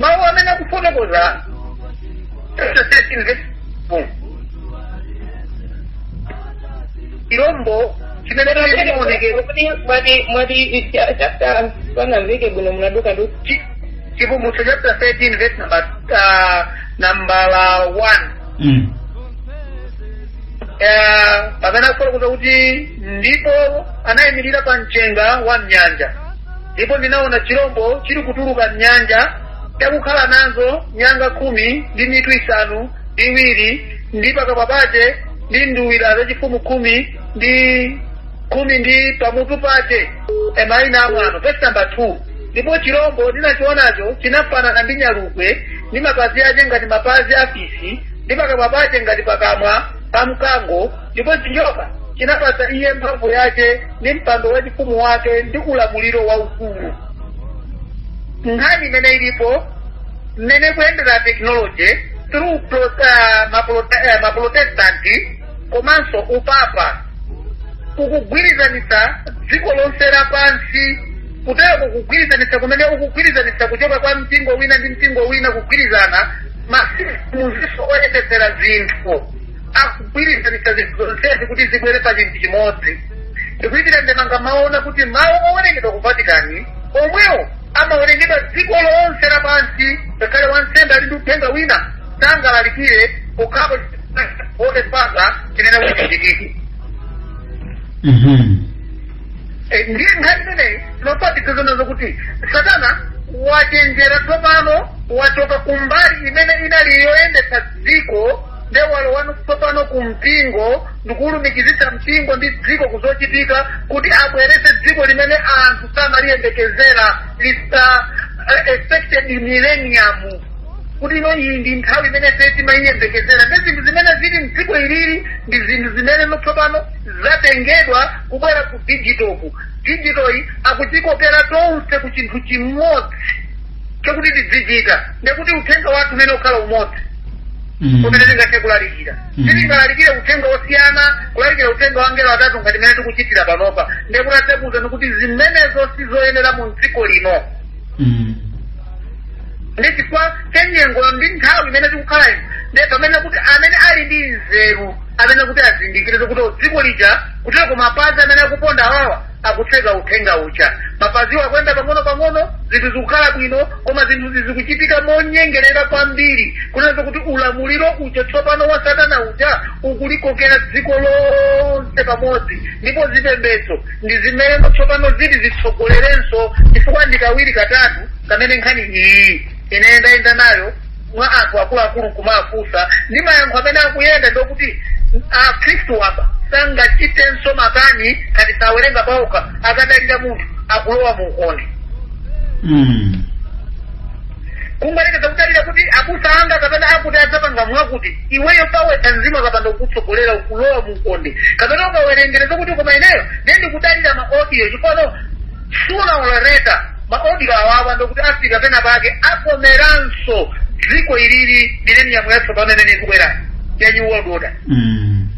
mawu amene akufotokoza chapter 13 verse 4 chilombo chimene chinaonekera mwati mwati chapter panamveke bwino munaduka du chi- chivumbutso chapter 13 verse number uh, nambala 1 Mm. eh, pamene akufotokoza kuti ndipo anayimirira pa mchenga wa mnyanja ndipo ndinaona chirombo chili kutuluka mnyanja chakukhala nazo nyanga khumi ndi mitu isanu ndi iwiri ndi pakamwa pace ndi nduwira zachifumu khumi ndi khumi ndi pamutu pace maina amwano vesi namba 2 ndipo chirombo ndinachionacho chinafanana ndi nyalugwe ndi mapazi ace ngati mapazi a fisi ndi pakamwa pace ngati pakamwa pa mkango ndipo chinjoka chinapatsa iye mphamvu yake ndi mpando wachifumu wake ndi ulamuliro waukulu nkhani imene ilipo mmene kuyendera tekinoloji through pro- ah, maprote- eh, maprotestanti komanso upapa ukugwirizanitsa dziko lonse lapansi kutero kukugwirizanitsa kumene ukugwirizanitsa kuchoka kwa mpingo wina ndi mpingo wina kugwirizana maziko oyendetsera zinthu akugwirizanitsa zinthu zonsezi kuti zibwere pa chinthu chimodzi ndikuitira ndemanga mumaona kuti mawu amawerengedwa ku vatikani omwewo amawerengedwa dziko lonse lapansi ngakhale wansembe ali ndi uthenga wina sangalalikire pokhapo otepanga chinene kuchitikiki Mhm. Eh, ndiye nkhani imeneyi tinopatikiza nazo kuti satana wachenjera tsopano wachoka kumbali imene inali yoyendetsa dziko nde walowa tsopano ku mpingo ndikuwulumikizitsa mpingo ndi dziko kuzochitika kuti abweretse dziko limene anthu samaliyembekezera lista uh, expected millennium kuti ino iyi ndi nthawi imene ife timayiyembekezera ndi zinthu zimene zili mdziko ilili ndi zinthu zimene tsopano zatengedwa kubwera ku digito ku digitoyi akutikokera tonse ku chinthu chimodzi chakuti tidzichita ndekuti uthenga wathu umene ukhala umodzi Mm. umene tingathe kulalikira Mm. sitingalalikire uthenga osiyana kulalikira uthenga wa angelo atatu ngati mmene tikuchitira panopa ndekuti atiuza kuti zimenezo sizoyenera mu dziko lino Mm. ndi chifukwa cha nyengo ndi nthawi imene tikukhala ino ndi pamene kuti amene ali ndi nzeru amene kuti azindikire kuti dziko lija kutero kumapazi amene akuponda awawa akutseka uthenga uja mwabata iwo akuyenda pang'ono-pang'ono zinthu zikukhala bwino koma zinthuzi zikuchitika monyengerera kwambiri kunena kuti ulamuliro uja tsopano wa satana uja ukulikokera dziko lonse pamodzi ndipo zipembedzo ndi zimene tsopano ziti zitsogolerenso chifukwa ndi kawiri katatu kamene nkhani iyi ine ndayenda nayo mwa anthu akuluakulu nkumafunsa ndi mayankho amene akuyenda ndiokuti akhristu apa sangachitenso makani ngati sawerenga paokha akadalira munthu akulowa mu ukonde Mm. kungoyerekeza kudalira kuti abusa anga kapena akuti adzapanga mwakuti iweyo pawekha mzimu akapanda kukutsogolera ukulowa mu ukonde kapena ukawerengera zokuti koma ineyo ndiye ndikudalira ma audio chifukwa Sooner or later ma audio awawa ndokuti afika pena pake akomeranso dziko ili liri mileniyamu yatsopano imene ikubwera ya new world order Mm.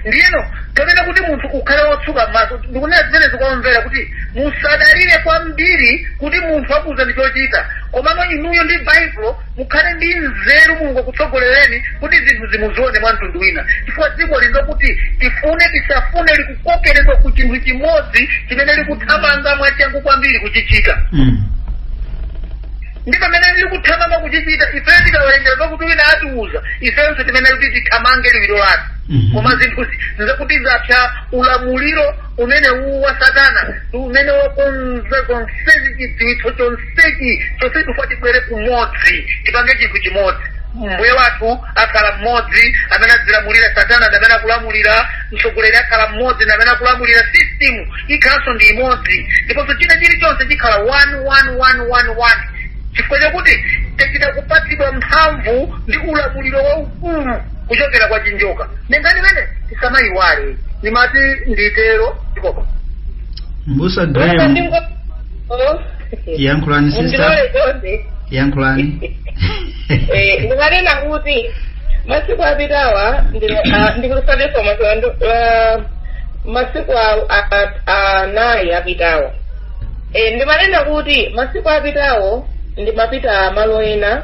ndiyeno kapena kuti munthu ukhale wotsuka m'maso ndikuona zimene zikubwera kuti musadalire kwambiri kuti munthu akuuzani chochita komano inuyo ndi baibulo mukhale ndi nzeru mulungu akutsogolereni kuti zinthuzi muzione mwa mtundu wina chifukwa dziko lino kuti tifune tisafune liku kukokeredwa ku chinthu chimodzi chimene likuthamanga mwachangu kwambiri kuchichita Mm. ndi pamene likuthamanga kuchichita ifeyo tikawerengera zakuti wina atiuza ifenso timene kuti tithamange liwiro lake Mhm. koma zinthu zi- zakuti zapsa ulamuliro umene uwu wa satana ndi umene wakonza zonsezi chidziwitso chonsechi chonse akufuna tibwere kumodzi tipange chinthu chimodzi mbuye wathu akhala mmodzi amene adzilamulira satana ndi amene akulamulira mtsogoleri akhala mmodzi ndi amene akulamulira system ikhalanso ndi imodzi ndiponso china chilichonse chikhala one one one one one chifukwa chakuti achita kupatsidwa mphamvu ndi ulamuliro waukulu kuchokera kwa chinjoka nde ngati mmene tisamayiwale ndimati nditero ndikopa mbusa Wena graham ndingo- Oh. yankhulani sister mundilole chonde yankhulani Eh, ndimanena kuti masiku apitawa ndikusateronso masiku a- a- a- anayi apitawa Eh, ndimanena kuti masiku apitawo ndimapita malo ena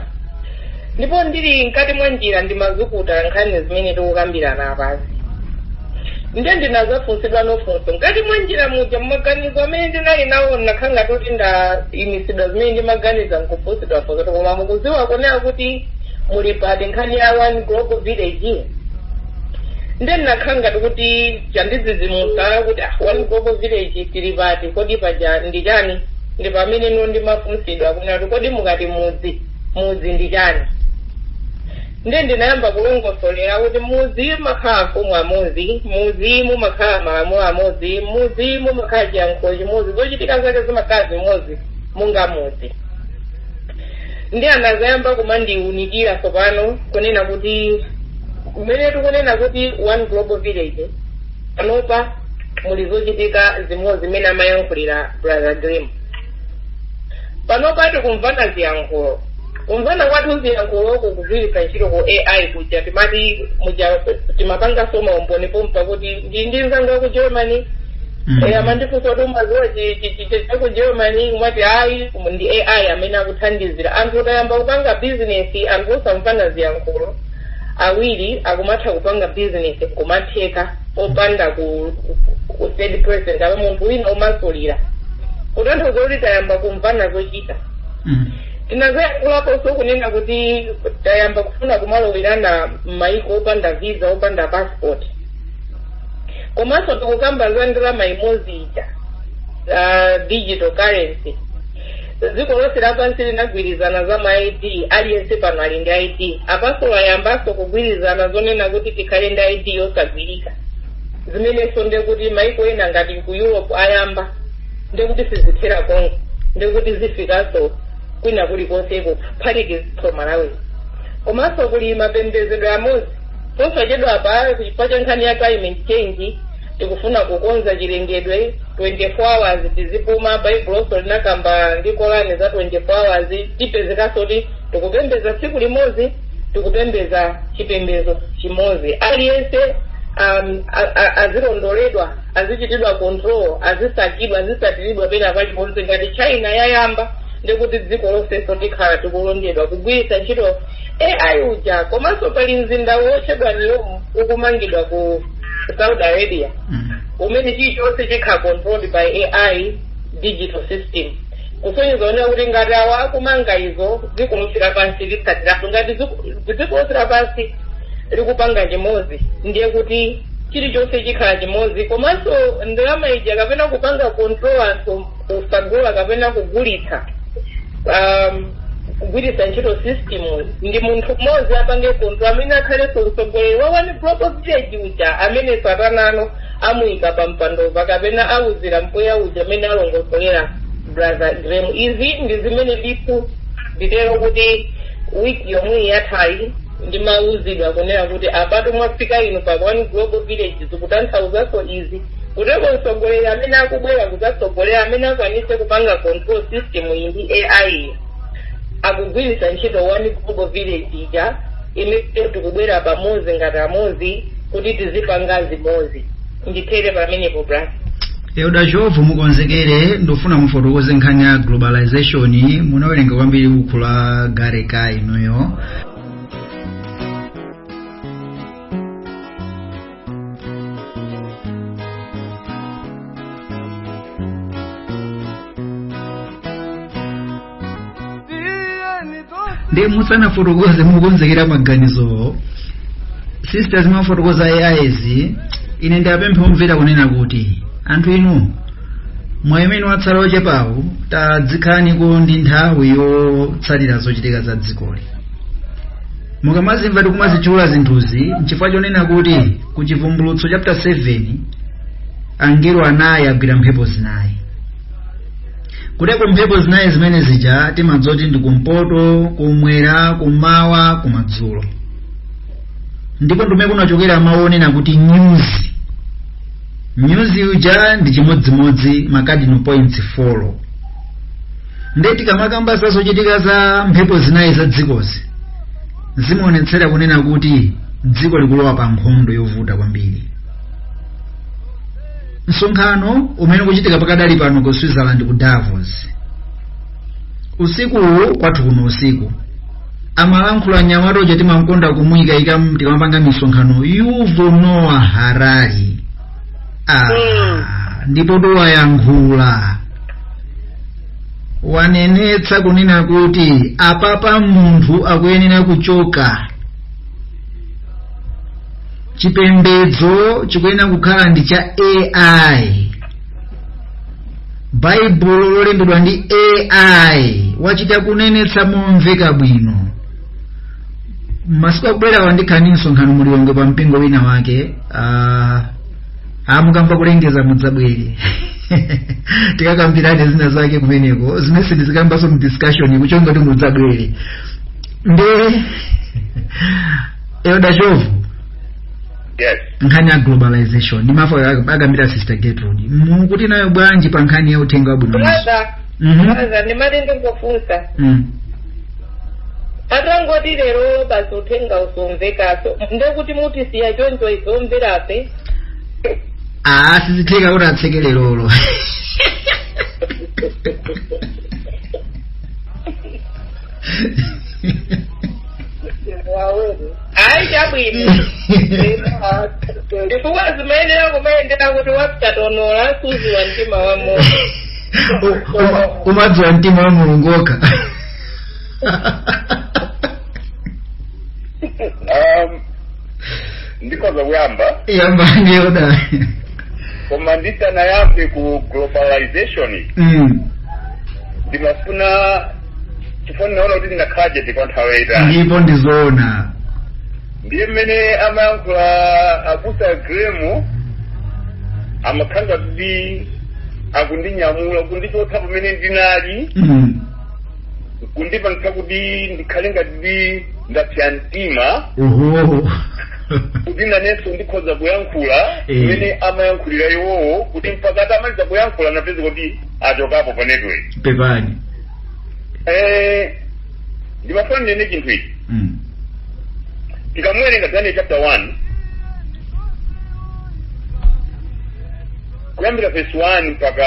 Ndipo ndili mkati mwa njira ndimazukuta nkhani zimene tikukambirana apazi. Nde ndinazafunsidwa funso mkati mwa njira muja mumaganizo amene ndinali nawo ndinakhala ngati kuti ndayimisidwa zimene ndimaganiza nkufunsidwa funso koma mukuziwa kunena kuti muli pati nkhani ya one global village nde ndinakhala ngati kuti chandidzidzimutsa kuti ah, one global village tili pati kodi paja ndi chani ndi pamene no ndimafunsidwa kunena kuti kodi mukati mudzi mudzi ndi chani ndiye ndinayamba kulongosolera kuti mudzi mumakhala amfumu amodzi mudzi mumakhala malamulo amodzi mudzi mumakhala chiyankhulo chimodzi zochitika zake zimakhala zimodzi monga mudzi ndiye anazayamba kumandiunikira tsopano kunena kuti kumene tikunena kuti one global village panopa muli zochitika zimodzi zimene amayankhulira brother graham panopa tikumvana ziyankhulo kumvana kwathu ziyankhulo kukugwiritsa ntchito ku ai kuja timati muja timapangaso maumboni pompa kuti ndi ndi mzangu wa ku germany Mm. Eh, amandifunsa kuti umaziwa chi- chi- chi- chi- cha ku germany umati ayi umu ndi ai amene akuthandizira anthu tayamba kupanga bizinesi anthu osamvana ziyankhulo awiri akumatha kupanga bizinesi nkumatheka popanda ku- ku- ku kupeza pa munthu wina womasulira kutanthauza kuti tayamba kumvana zochita Mm. tinazoyankhulaponso kunena kuti tayamba kufuna kumalowerana m'mayiko opanda visa opanda passport komanso tikukamba za ndalama imodzi ija za digital currency dziko lonse lapansi linagwirizana za ma id aliyense pano ali ndi id apanso ayambanso kugwirizana zonena kuti tikhale ndi id yosagwirika zimenenso ndekuti maiko ena ngati ku europe ayamba ndekuti sizithera konko ndekuti zifikanso kwina kulikonseko kuphatikizaso malawi komanso kuli mapembedzedwe amodzi posachedwa pa chifukwa cha nkhani ya climate change tikufuna kukonza chilengedwe 24 hours tizipuma baibulonso linakamba ndi kolani za 24 hours tipezekanso kuti tikupembeza tsiku limodzi tikupembeza chipembezo chimodzi aliyense um, a- a- azilondoledwa azichitidwa control azisakidwa azisatiridwa pena paliponse ngati china yayamba ndekuti dziko lonsenso tikhala tikulondedwa kugwiritsa ntchito ai uja komanso pali mzinda wotchedwa neom ukumangidwa ku saudi arabia umene chilichonse chikhala controlled by ai digital system kusonyezeratu kuti ngati awa akumanga izo dziko lonse lapansi litsatirapo ngati dziko- dziko lonse lapansi likupanga chimodzi ndiye kuti chilichonse chikhala chimodzi komanso ndalama ija kapena kupanga control anthu kusagula kapena kugulitsa um, kugwiritsa ntchito system ndi munthu mmodzi apange zinthu amene akhalenso mtsogoleri wa one global village uja amene satanano amuyika pa mpandova kapena awuzira mpweya uja amene alongosolera brother graham izi ndi zimene ndithu nditero kuti wiki yomwe yathayi ndimawuzidwa kunena kuti apatu mwafika inu pa one global village zikutanthauzanso izi Kuteko mtsogoleri amene akubwera kudzatsogolera amene akwanitse kupanga control system iyi ndi AI akugwiritsa ntchito one global village ija imene tikubwera pamodzi ngati amodzi kuti tizipanga zimodzi ndithere pamenepo bras elda Chovu mukonzekere ndofuna mufotokoze nkhani ya globalization munawerenga kwambiri buku la gareka inuyo nde musanafotokoze mukonzekera maganizowo sisters mwafotokoza as ine ndipemphe omvera kunena kuti anthu inu mwa amene mwatsala ochepawo tadzikhalaniko ndi nthawi yotsatira zochitika za dzikoli mukamazimva tikumazitchula zinthuzi nchifukwa chonena kuti ku chivumbulutso chapter 7 angelo anayi agwira mphepo zinayi kuteko mphepo zinayi zimene zija timadzoti ndi kumpoto kumwera kumawa kumadzulo ndipo ndikumene kunachokera mawu onena kuti nyuzi nyuzi uja ndi chimodzimodzi ma cardinal points 4 nde tikamakamba za zochitika za mphepo zinayi za dzikozi zimaonetsera kunena kuti dziko likulowa pa nkhondo yovuta kwambiri msonkhano umene ukuchitika pakadali pano ku switzerland ku davos usikuwu kwathu kuno usiku amalankhula nyamata uja timamkonda kumuyikayika tikamapanga misonkhano Yuval Noah Harari ah, Mm. ndipo towayankhula wanenetsa kunena kuti apapa munthu akuyenera kuchoka chipembedzo chikuyenera kukhala ndi cha ai baibulo lolembedwa ndi ai wachita kunenetsa momveka bwino masiku akubwerawa ndikhala ndi msonkhano mu Lilongwe pa mpingo wina wake uh, Ah, mukamva kulengeza mudzabwere tikakambirane zina zake kumeneko zimene sindizikambanso mu discussion kuchonga kuti mudzabwere nde elda chovu yes nkhani ya globalization ndi mmene akambira sister Gertrude mukuti nayo bwanji pa nkhani ya uthenga wabwino brother Mhm. brother ndimati ndingofunsa Mm. atangoti lerolo basi uthenga usomvekaso ndekuti mutisiya choncho tizimvera ife aa sizitheka kuti atseke lerolo ayi chabwino chifukwa sizimayenera kumayendera kuti wapastor olo sudziwa mtima wa moyo umadziwa mtima ndi mulungu yekha um, ndikoza kuyamba yambani yoda koma ndisanayambe ku globalization Mm. ndimafuna chifukwa ndinaona kuti ndinakhala chete kwa nthawi yayitali ndipo ndizoona ndiye mmene amayankhula abusa gremu amakhala kuti akundinyamula kundichotsa pamene ndinali Mm. kundipangitsa kuti ndikhale ngati ndi ndapsa mtima Oho. kuti nanenso ndikhoza kuyankhula Eh. mmene amayankhulira iwowo kuti mpaka atamaliza kuyankhula ndapeza kuti achokapo pa network Pepani. Eh, ndimafuna ndinene chinthu ichi Mm. tikamwerenga daniel chapter 1 kuyambira vesi 1 mpaka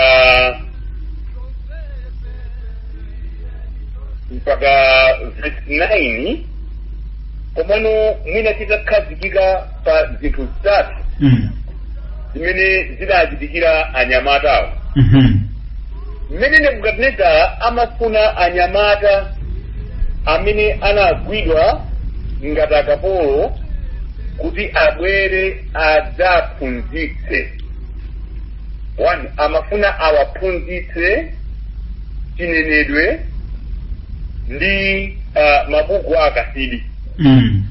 mpaka vesi 9 komano mwina tikakhazikika pa zinthu zitatu Mm. zimene zidachitikira anyamatawo Mhm. mmene nebukadinezara amafuna anyamata amene anagwidwa ngati akapolo kuti abwere adzaphunzitse 1 amafuna awaphunzitse chinenedwe ndi uh, mabuku a akasidi mm.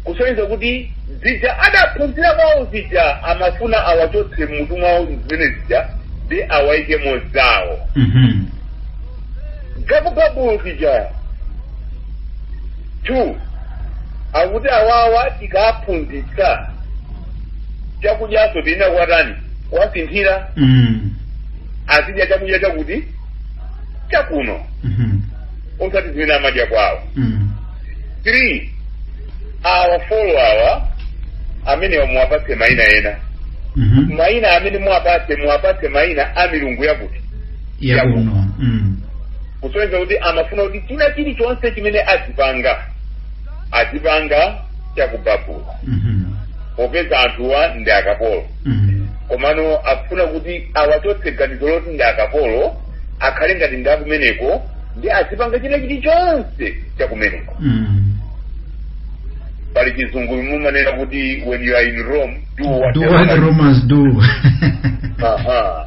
kusonyeza kuti zija adaphunzira kwawo zija amafuna awachotse mmutu mwawo zimene zija ndi awaike zawo mhm. gabugabu zija two akuti awawa tikaphunzitsa chakudyaso tiyenera kuwatani kuwasinthira Mm. azidya chakudya chakuti chakuno Mhm. osati zimene amadya kwawo Mm. three awa folo awa amenewa muwapatse maina ena Mhm. maina amene muwapatse muwapatse maina a milungu yakuti yakuno Mm. kusonyeza kuti amafuna kuti china chilichonse chimene azipanga azipanga cha ku Babulo Mhm. popeza anthuwa ndi akapolo Mhm. komano akufuna kuti awachotse ganizo loti ndi akapolo akhale ngati ndi akumeneko nde azipanga china chilichonse cha kumeneko Mhm. pali chizungu mumanena kuti when you are in rome do what Do the what the Romans- romans do Aha.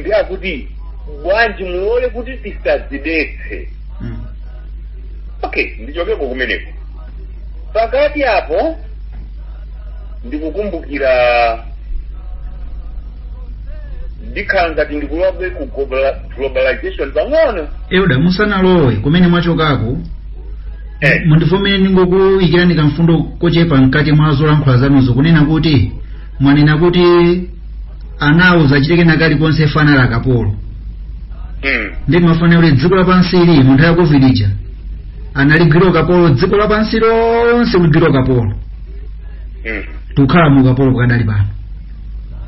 nde akuti bwanji mulole kuti tisadzidetse Mm. okay ndichokeko kumeneko, pakati apo ndikukumbukira ndikhala ngati ndikulowako ku globala- globalization pang'ono elda musanalowe kumene mwachokako eh, mundivomere ndingoikirani kamfundo kochepa mkati mwa zolankhula zanuzo kunena kuti mwanena kuti anauza achitike nakalikonse ngati akapolo mm. ndimafuna kuti dziko lapansi ili munthawi ya covid ija analigwira ukapolo dziko lapansi lonse kuligwira ukapolo mm. tikukhala mu ukapolo kufikira pano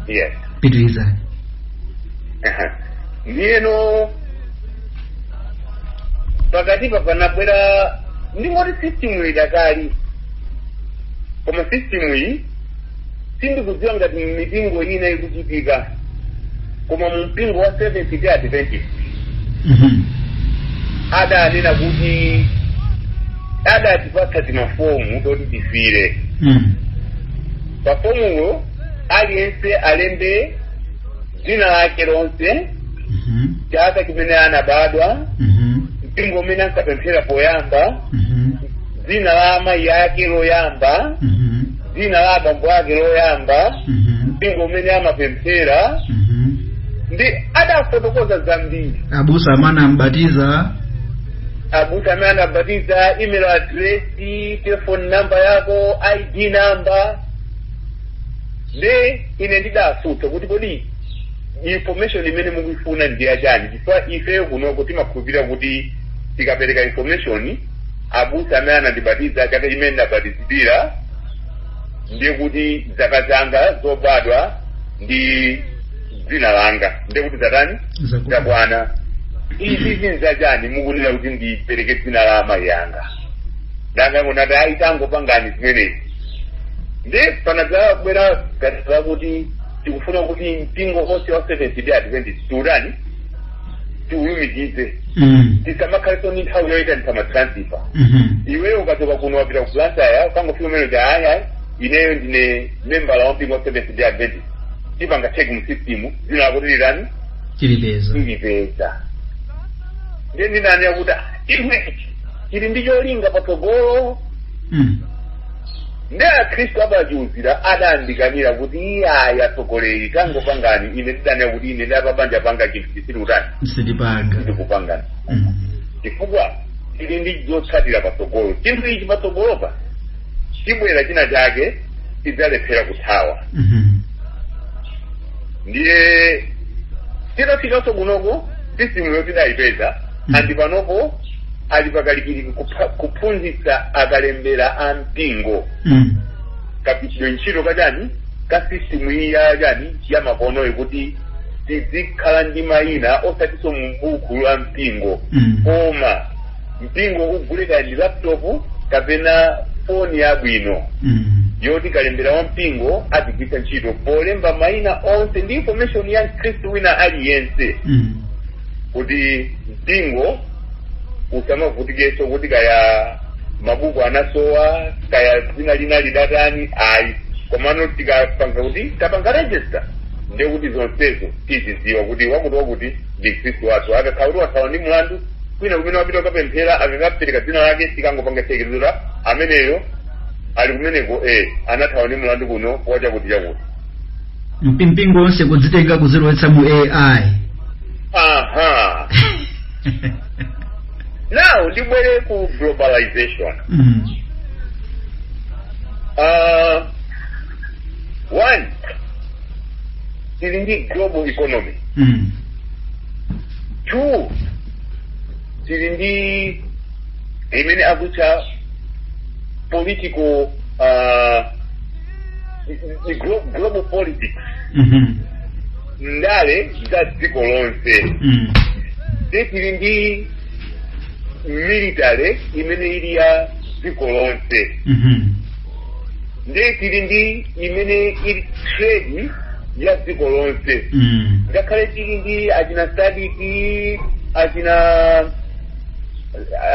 yes pitirizani Aha. ndiyeno pakatipa panabwera ndingoti system idakali koma system iyi sindikudziwa ngati m'mipingo ina ikuchitika koma mu mpingo wa seventh day adventist Mhm. adanena kuti adatipatsa timafomu toti tifire Mm. pafomupo aliyense alembe dzina lake lonse Mhm. chaka chimene anabadwa Mhm. mpingo umene ankapemphera poyamba Mhm. dzina la amayi ake loyamba Mhm. dzina la abambo ake loyamba Mhm. mpingo umene amapemphera Mhm. nde adafotokoza zambiri abusa amene anambatiza abusa amene anambatiza email address telefoni namba yako id namba nde ine ndidafunsa kuti kodi information imene mukuifuna ndi yachani chifukwa ifeyo kunoko timakhulupirira kuti tikapereka information abusa amene anandibatiza chaka chimene ndinabatizidwira ndiye kuti zaka zanga zobadwa ndi dzina langa ndiye kuti zatani Zakwana. zakwana izi zinthu zachani mukunena kuti ndipereke dzina la amayi anga adangonena kuti ayi tangopangani zimenezi ndiye panadzabwera ganizo lakuti tikufuna kuti mpingo wonse wa seventh day adventist tiutani tilumikize Mm. tisamakhalenso ndi nthawi yoyitanitsa matransifa Mhm. iweyo ukachoka kuno wapita ku blantyre ukangofika umene uja ayi ineyo ndine membala wa mpingo wa seventh day adventist tipanga check mu system dzina lako tilidani Tilipeza. tilipeza ndiye ndinani akuti ichi chili ndi cholinga patsogolo Mm. ndiye akhristu apachiuzira adandikanira kuti iye ayi atsogoleri tangopangani ine ndidanena kuti ine ndapanga panga chinthu chisiri utani sitipanga ndikupangani Mm. chifukwa tili ndi zotsatira patsogolo chinthu ichi patsogolopa chibwera china chake tidzalephera kuthawa Mhm. ndiye titafikanso kunoko sisitimuyo tidayipeza ndi panopo ali pakalikiliki kupha- kuphunzitsa akalembera a mpingo Mm. kapitidwe ntchito kadani ka system iyi yadani ya makonoyo kuti tizikhala ndi mayina osatiso mu buku la mpingo Mm. koma mpingo ugule kaya ndi laptop kapena foni yabwino Mm. yoti kalembera wa mpingo azigwiritsa ntchito polemba mayina onse ndi information ya mkhristu wina aliyense Mm. kuti mpingo usamavutikenso kuti kaya mabuku anasowa kaya dzina lina lidatani ayi komano tikapanga kuti tapanga register ndiye kuti zonsezo tizidziwa kuti wakuti wakuti ndi mkhristu wathu akakhala kuti wathawa ndi mlandu kwina kumene wapita kukapemphera akakapereka dzina lake tikangopanga chekezera ameneyo ali kumeneko e anathawa ndi mlandu kuno wachakuti chakuti mpingo wonse kuzitenga kuzilowetsa mu ai aha now tibwere ku globalization mm. uh, one tili ndi global economy Mm. two tili ndi imene akutcha political uh, ndi glo- global politics Mhm. ndale za dziko lonse Mm. ndi tili ndi military imene ili ya dziko lonse Mhm. ndi tili ndi imene ili trade ya dziko lonse Mm. ngakhale tili ndi achina SADC achina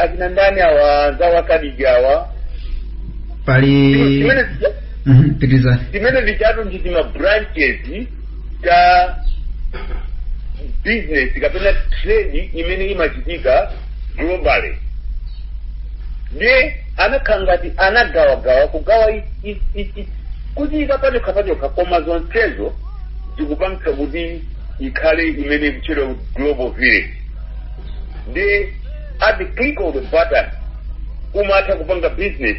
achina ndani awa anzawo a SADC awa pali Zimene zija- Mhm, pitirizani zimene zijatu ndi tima branches ta business kapena trade imene imachitika globally ndiye anakhala ngati anagawagawa kugawa i- i- i- i- kuchiyika pachokha pachokha koma zonsezo zikupangitsa kuti ikhale imene ikutchedwa global village ndiye at the click of the button umatha kupanga business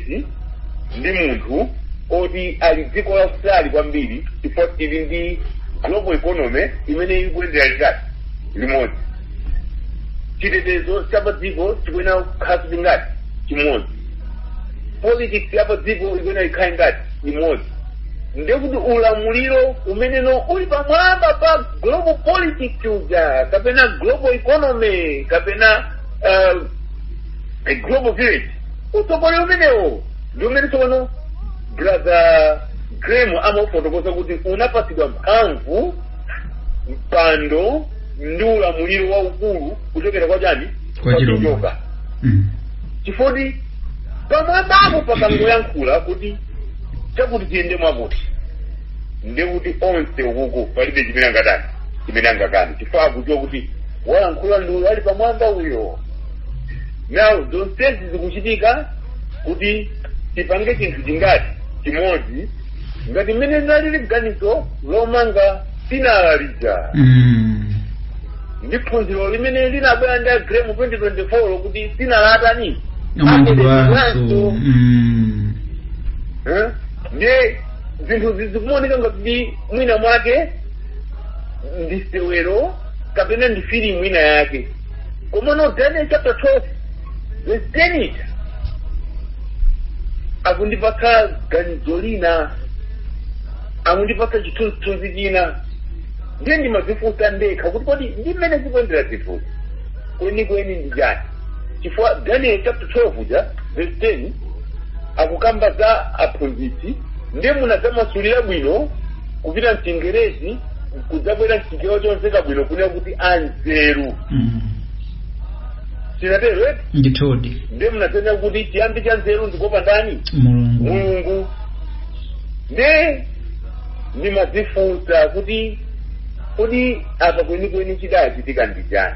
ndi munthu oti ali dziko la kutali kwambiri chifukwa tili ndi global economy imene ikuyendera ngati limodzi chitetezo cha padziko chikuyenera kukhala chili ngati chimodzi politics ya padziko ikuyenera ikhale ngati imodzi ndekuti ulamuliro umenewo uli pamwamba pa global politics uja kapena global economy kapena uh, a global village utsogoleri umenewo ndi umene tsopano brother graham amafotokoza kuti unapatsidwa mphamvu mpando ndi ulamuliro waukulu kuchokera kwa chani Kwa chirombo. Mm. chifoti pamwambapo pakangoyankhula kuti chakuti tiyende mwakuti ndiye kuti onse ukuku palibe chimene angatani chimene angakani chifukwa akudziwa kuti walankhula ndi uyo ali pamwamba uyo now zonsezi zikuchitika kuti tipange chinthu chingati chimodzi ngati mmene nalili ganizo lomanga sinala lija Mm. ndi phunziro limene linabwera ndi a graham mu 2024 kuti sinala atani Amangidwanso. Mm. Eh? ndiye zinthuzi zikumaoneka ngati mwina mwake ndi sewero kapena ndi filimu ina yake komano daniel chapter 12 verse 10 ija akundipatsa ganizo lina akundipatsa chithunzithunzi china ndiye ndimadzifunsa ndekha kuti kodi ndi mmene zikuendera zinthuzi kwenikweni ndi chani chifukwa daniel chapter 12 uja verse 10 akukamba za aphunzitsi ndiye munadzamasulira bwino kupita mchingerezi kudzabwera mchichewa chomveka bwino kunena kuti anzeru Mm. sichitero eti ndithudi ndiye munadzanena kuti chiyambi cha nzeru ndi kuopa ndani mulungu mulungu nde ndimadzifunsa kuti kodi apa kwenikweni chidachitika ndi chani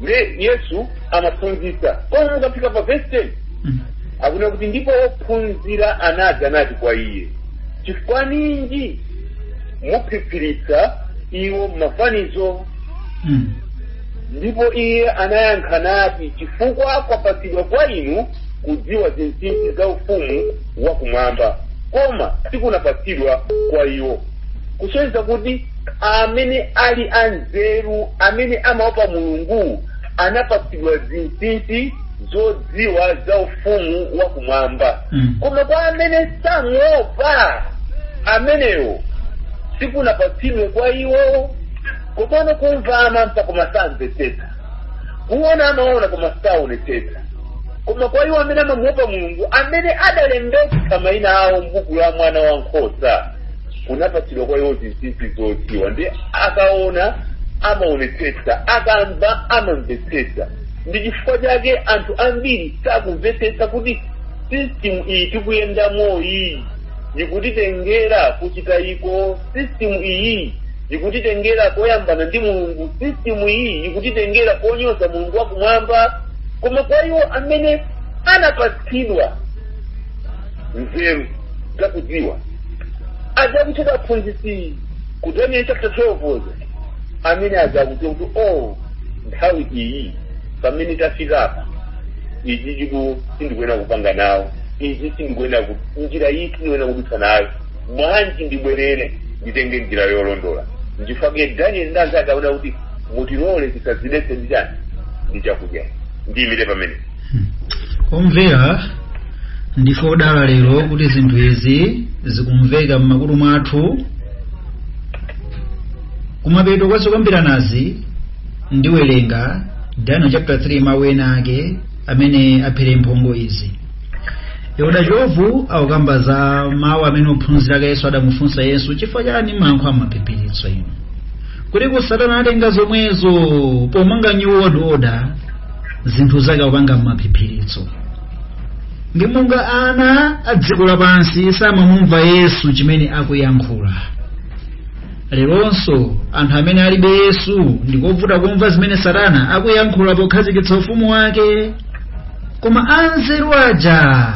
ndiye yesu amaphunzitsa koma mukafika pa verse 10 Mm. akunena kuti ndipo ophunzira anadza nati kwa iye chifukwa ninji muphiphiritsa iwo m'mafanizo Mm. ndipo iye anayankha nati chifukwa kwapatsidwa kwa inu kudziwa zinsinsi za ufumu wakumwamba koma sikunapatsidwa kwa iwo kusonyeza kuti amene ali anzeru amene amaopa mulungu anapatsidwa zinsinsi zodziwa za ufumu wa kumwamba Mm. koma kwa amene samuopa amenewo sikunapatsidwe kwa iwo komano kumva amamva koma samvetsetsa kuona amaona koma saonetsetsa koma kwa iwo amene amamuopa mulungu amene adalembedwa maina awo mbuku la mwana wa nkhosa kunapatsidwa kwa iwo zinsinsi zodziwa nde akaona amaonetsetsa akamva amamvetsetsa ndi chifukwa chake anthu ambiri sakumvetsetsa kuti system iyi tikuyendamo iyi ikutitengera kuchitayiko system iyi ikutitengera koyambana ndi mulungu system iyi ikutitengera konyoza mulungu wakumwamba koma kwa iwo amene anapatsidwa nzeru zakudziwa azakucheka aphunzitsi ku daniel chapter 12 amene azakucheka kuti o nthawi iyi pamene tafikapa izi chiku sindikuyenera kupanga nawo izi sindikuyenera njira iyi sindikuyenera kudutsa nayo bwanji ndibwerere nditenge njira yolondola ndifake daniel ndi anzake anaona kuti mutilole tisadzidetse ndichani ndichakudya ndiyimire pamene omvera ndife odala lero kuti zinthu izi zikumveka m'makutu mwathu kumapeto kwa zokambiranazi ndiwerenga daniel chapter 3 mawu ena ake amene aphere mphongo izi elder chovu akukamba za mawu amene ophunzira ake yesu adamufunsa yesu chifukwa chani mumayankhula m'maphiphiritso inu kuti satana atenga zomwezo pomanga new world order zinthuzo akupanga m'maphiphiritso ndi monga ana a dziko lapansi samamumva yesu chimene akuyankhula leronso anthu amene alibe yesu ndikovuta kumva zimene satana akuyankhula pokhazikitsa ufumu wake koma anzeru aja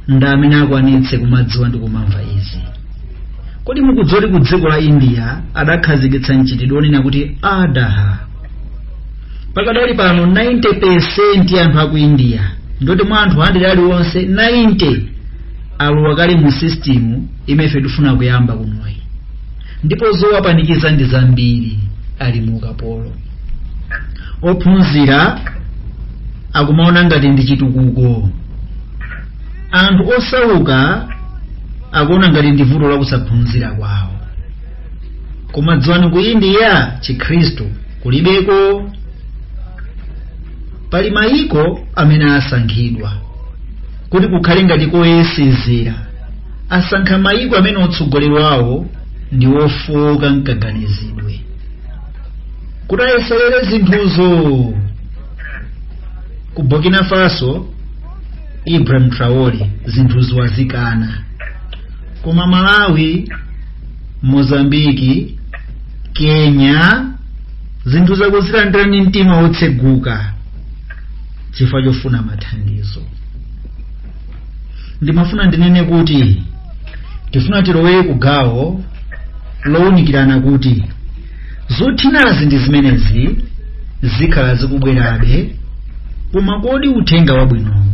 ndi amene akwanitse kumadziwa ndi kumamva izi kodi mukudziwa kuti ku dziko la india adakhazikitsa mchitidwe onena kuti adaha pakadali pano 90% anthu a ku india ndoti mwa anthu 100 aliwonse 90 alowa kale mu system imefe tifuna kuyamba kunoyi ndipo zowapanikiza ndi zambiri ali mu ukapolo ophunzira akumaona ngati ndi chitukuko anthu osauka akuona ngati ndi vuto la kusaphunzira kwawo koma dziwani ku india chikhristu kulibeko pali mayiko amene asankhidwa kuti kukhale ngati koyesezera asankha mayiko amene utsogoleri wawo ndi wofowoka mkaganizidwe kuti ayeserere zinthuzo ku burkina faso ibrahim traore zinthuzo wazikana koma malawi mozambiki kenya zinthuzo akuzilandira ndi mtima wotseguka chifukwa chofuna mathandizo ndimafuna ndinene kuti tifuna tilowere ku gawo lowunikirana kuti Zothinazi zimenezi zikhala zikubwerabe, koma kodi uthenga wabwinowu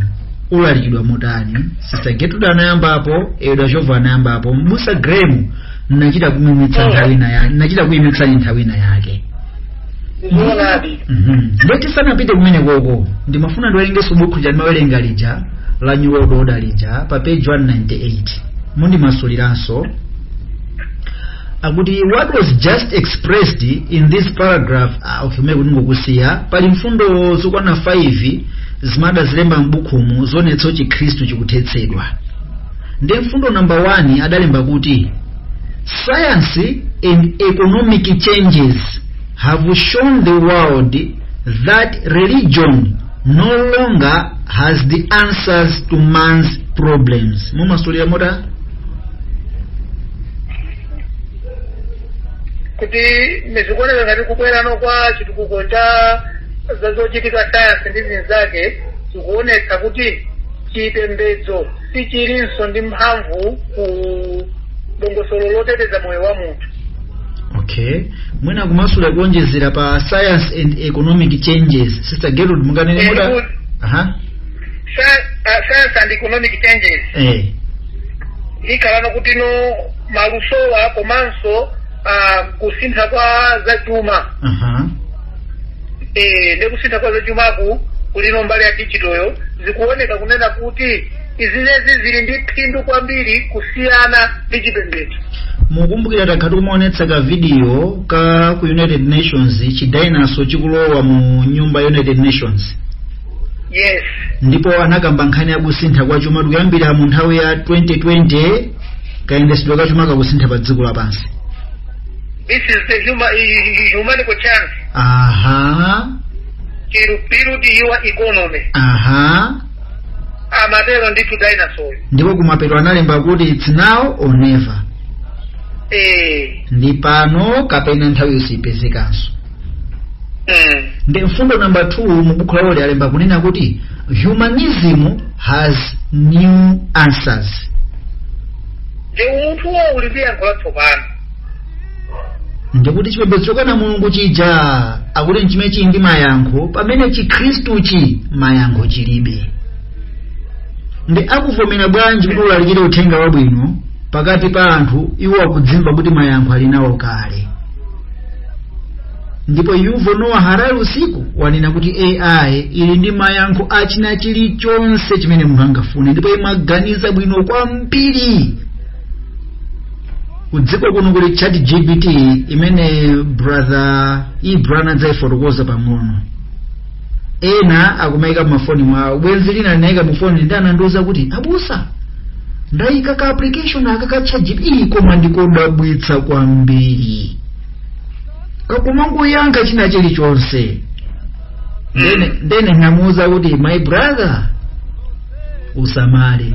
ulalikidwa motani? Sister Getrude anayambapo, Elder Jovo anayambapo, Mbusa Graham nachita kuimitsa nthawi ina yake, nachita kuimitsani nthawi ina yake. zoonadi Mhm. Nde tisanapite kumene koko ndimafuna ndiwerengenso bukhu lija ndimawerenga lija la New World Order lija pa page 198 mundimasuliranso akuti what was just expressed in this paragraph ah, okay mwe kuti ngokusiya pali mfundo zokwana 5 zimene adazilemba m'bukhumu zoonetsa chikhristu chikuthetsedwa ndi mfundo namba 1 adalemba kuti science and economic changes have shown the world that religion no longer has the answers to man's problems mumasulira motani kuti ndi zikuoneka ngati kukwerano kwa chitukuko cha za zochitika sayansi ndi zinzake zikuonetsa kuti chipembedzo sichilinso ndi mphamvu ku dongosolo loteteza moyo wa munthu okay mwina kumasulira kuonjezera pa science and economic changes sister gerald munganene Ehe, muda kuti- aha Sci- uh, science and economic changes eh ikhala kuti ndi malusowa komanso uh, kusintha kwa zachuma aha eh, ndi kusintha kwa zachumaku kuli mbali ya digitalyo zikuoneka kunena kuti zimenezi zili ndi phindu kwambiri kusiyana ndi chipembedzo mukumbukira takhala tikumaonetsa ka video ka ku united nations chi dinosaur chikulowa mu nyumba ya united nations yes ndipo anakamba nkhani ya kusintha kwa chuma tikuyambira mu nthawi ya 2020 kayendesedwe ka chuma kakusinthika pa dziko lapansi this is the huma, humanity chance aha to rebuild your economy aha amatero ndithu dinosaur ndipo kumapeto analemba kuti its now or never eh ndi pano kapena nthawi yo siyipezekanso Mm. ndi mfundo namba 2 mu buku lawo lija alemba kunena kuti humanism has new answers ndi umunthuwo uli ndi yankho latsopano ndiye kuti chipembedzo chokana mulungu chija akuti nchimene chili ndi mayankho pamene chikhristuchi mayankho chilibe nde akuvomera bwanji kuti ulalikire uthenga wabwino pakati pa anthu iwo akudzimva kuti mayankho ali nawo kale ndipo yuval noah harari uyu wanena kuti ai ili ndi mayankho a china chilichonse chimene munthu angafune ndipo imaganiza bwino kwambiri kudziko kuno kuli chat gpt imene brother ibrana adzayifotokoza pang'ono ena akumayika mmafoni mwawo bwenzi lina linayika mufoni nde anandiuza kuti abusa ndayika ka application aka ka chatgpt koma nkodabwitsa kwambiri kakumangoyankha china chilichonse ndene ndene namuuza kuti my brother usamale